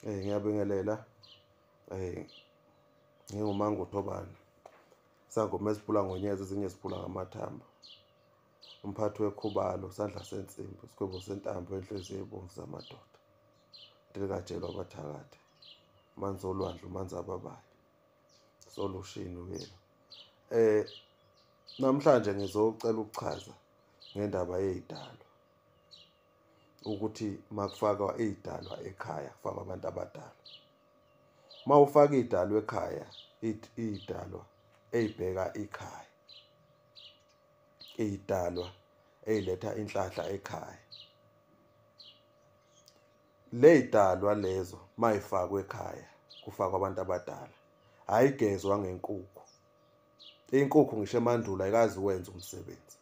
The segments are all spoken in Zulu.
Eh ngiyabingelela. Eh ngingumangu Thobana. Sangoma esiphula ngonyeza ezinye siphula ngamathamba. Umphathi wekhubalo sandla sensimbi sikhwebo sentambo enhliziyo ebomvu zamadoda. Ndilikajelwa abathakathi. Manzi olwandle manzi ababayo. Solushini uyena. Eh namhlanje ngizocela ukuchaza ngendaba yezidalo. ukuthi makufakwa izidalwa ekhaya kufakwa abantu abadala uma ufaka izidalwa ekhaya izidalwa eyibheka ikhaya izidalwa eyiletha inhlahla ekhaya leyidalwa lezo mayifakwe ekhaya kufakwa abantu abadala ayigezwa ngenkukhu inkukhu ngisho emandulo ayikazi wenza umsebenzi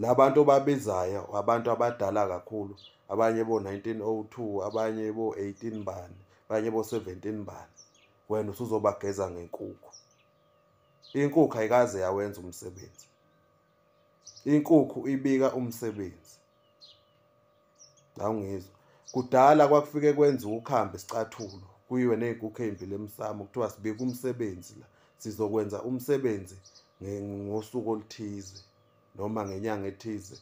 labantu obabizayo abantu abadala kakhulu abanye bo-1902 abanye bo-18 bani abanye bo-17 bani wena usuzobageza ngenkukhu inkukhu ayikaze yawenza umsebenzi inkukhu ibika umsebenzi awungizwa kudala kwakufike kwenza ukuhambe sicathulo kuyiwe ney'nkukhu ey'mbili emsamo kuthiwa sibike umsebenzi la sizokwenza umsebenzi ngosuku oluthize noma ngenyanga ethize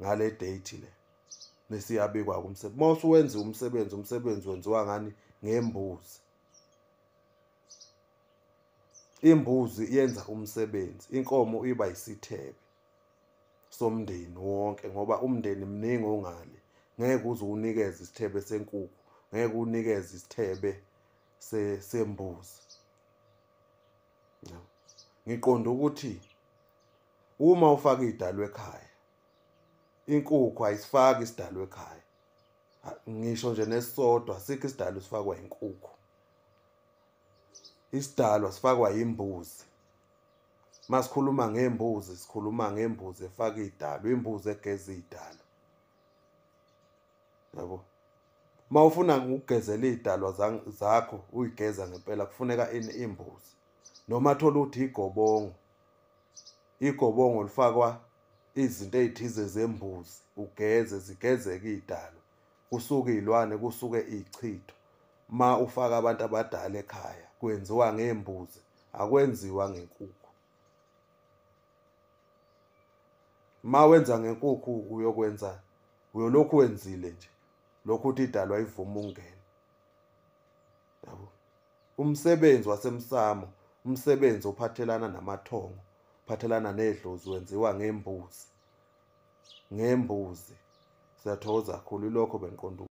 ngale date le nesiyabikwa kumsebenzi uma usuwenza umsebenzi umsebenzi wenziwa ngani ngembuzi imbuzi yenza umsebenzi inkomo iba yisithebe somndeni wonke ngoba umndeni mningi ongale ngeke uze unikeze isithebe senkukhu ngeke unikeze isithebe sembuzi ngiqonda ukuthi uma ufaka idalo ekhaya inkukhu ayisifaki isidalo ekhaya ngisho nje nesisodwa sikho isidalo sifakwa inkukhu isidalo sifakwa imbuzi masikhuluma ngembuzi sikhuluma ngembuzi efaka idalo imbuzi egeza idalo yabo uma ufuna ukugezela idalwa zakho uyigeza ngempela kufuneka ini imbuzi noma thola ukuthi igobongo igobongo lifakwa izinto ezithize zembuzi ugeze zigezeke idalwa kusuke izilwane kusuke izichitho ma ufaka abantu abadala ekhaya kwenziwa ngembuzi akwenziwa ngenkukhu ma wenza ngenkukhu uyokwenza uyolokhu wenzile nje lokhu uthi idalwa ivuma ungena yabo umsebenzi wasemsamo umsebenzi ophathelana namathongo phathelana nedlozi wenziwa ngembuzi ngembuzi siyathokoza kakhulu ilokho bengiqonda